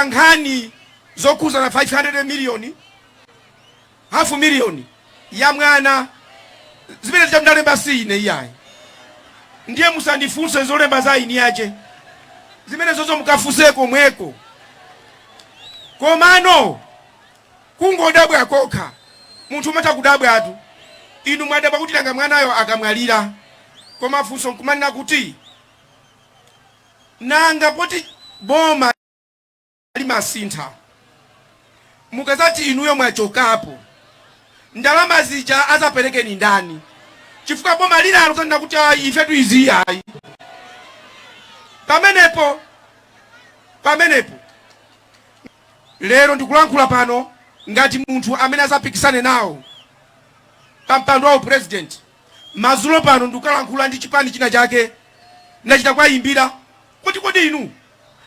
nkhani zokhuzana ndi 500 million half million ya mwana zimene zija ndalemba si ine iyayi ndiye musandifunse zolemba za eni ake zimene zozo mukafunse komweko komano kungodabwa kokha munthu umatha kudabwatu inu mwadabwa kuti nanga mwanayo akamwalira koma funso nkumanena kuti Nanga poti boma limasinthatu mukazati inuyo mwachokapo ndalama zija azapereke ndi ndani? Chifukwa boma lina lizanena kuti ayi ifetu izi ayi. Pamenepo pamenepo lero ndikulankhula pano ngati munthu amene azapikisane nawo pa mpando wa upresident. Madzulo pano ndikukalankhula ndi chipani china chake, ndinachita kuwayimbira kuti kodi inu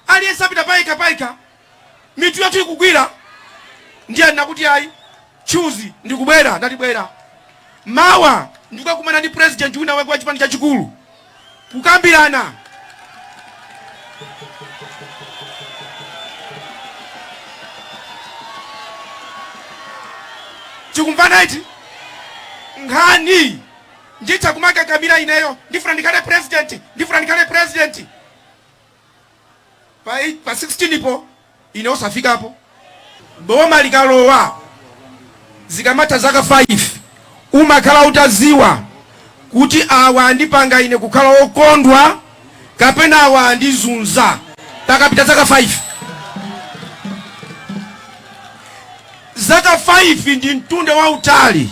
aliyense apita payekha payekha, mitu yathu ikugwira? Ndiye anena kuti ayi, Chuzi ndikubwera. Ndati bwera mawa ndikukakumana ndi president wina wake wa chipani chachikulu. kukambirana tikumvana eti nkhani nditha kumakakamira ineyo ndifuna ndikhale president ndifuna ndikhale president pa, pa 16 po ine osafikapo. Boma likalowa zikamatha zaka 5 umakhala utaziwa kuti awa andipanga ine kukhala okondwa kapena awa andizunza pakapita zaka 5. Zaka 5 ndi mtunda wautali.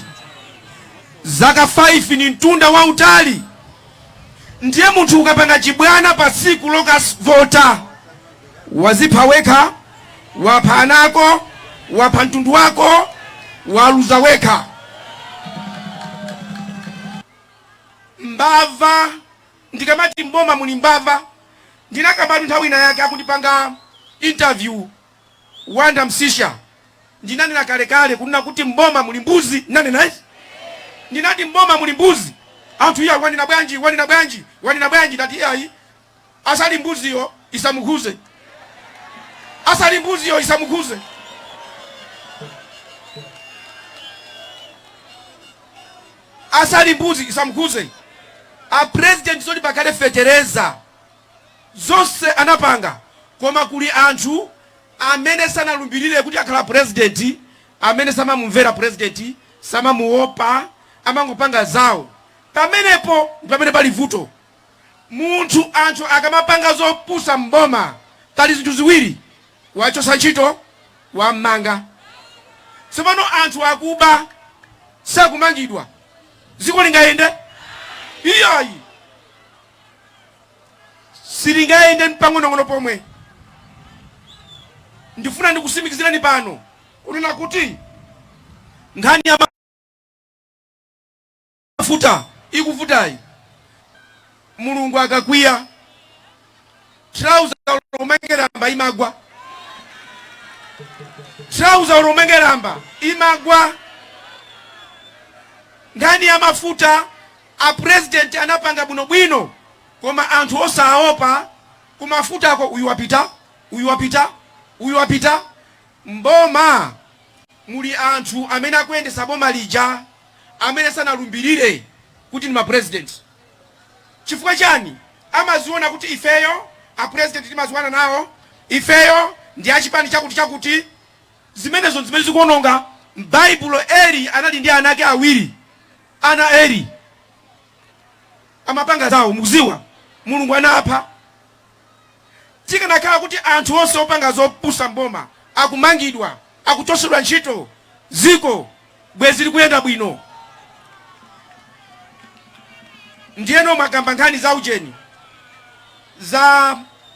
Zaka 5 ndi mtunda wautali ndiye munthu ukapanga chibwana patsiku lokavota. wazipha wekha wapha ana ako wapha mtundu wako waluza wekha mbava ndikamati mboma muli mbava ndinakambatu nthawi ina yake akundipanga interview wonder msiska ndinanena kalekale kunena kuti mboma muli mbuzi ndinanena izi ndinati mboma muli mbuzi anthu iya wanena bwanji wanena bwanji wanena bwanji ndati iyayi Asali mbuziyo isamukhuze. Asali mbuziyo isamukhuze. Asali mbuzi isamukhuze. A president zoti pakhale fetereza zonse anapanga, koma kuli anthu amene sanalumbirire kuti akhala president, amene samamumvera president, samamuopa, amangopanga zawo. Pamenepo ndi pamene pali vuto. Munthu, anthu akamapanga zopusa m'boma pali zinthu ziwiri, kuwachotsa ntchito, kuwamanga. Tsopano anthu akuba sakumangidwa, dziko lingayende? Iyayi, silingayende mpang'onong'ono pomwe. Ndifuna ndikusimikizireni pano kunena kuti nkhani ya mafuta ikuvutayi mulungu akakwiya trouser olo umange lamba imagwa nkhani ya mafuta a president anapanga bwino bwino koma anthu osaopa kumafutako uyu wapita uyu wapita uyu wapita M'boma muli anthu amene akuyendetsa boma lija amene sanalumbirire kuti ndi ma president. Chifukwa chani? Amaziona kuti ifeyo a president timaziwana nawo, ifeyo ndi a chipani chakuti chakuti. Zimenezo ndi zimene zikuononga. M'baibulo Eli anali ndi ana ake awiri. Ana a Eli amapanga zawo. Mukuziwa? Mulungu anapha. Tikanakhala kuti anthu onse opanga zopusa m'boma akumangidwa, akuchotsedwa ntchito, dziko bwezi likuyenda bwino. Ndiyeno mwakamba nkhani za ujeni za.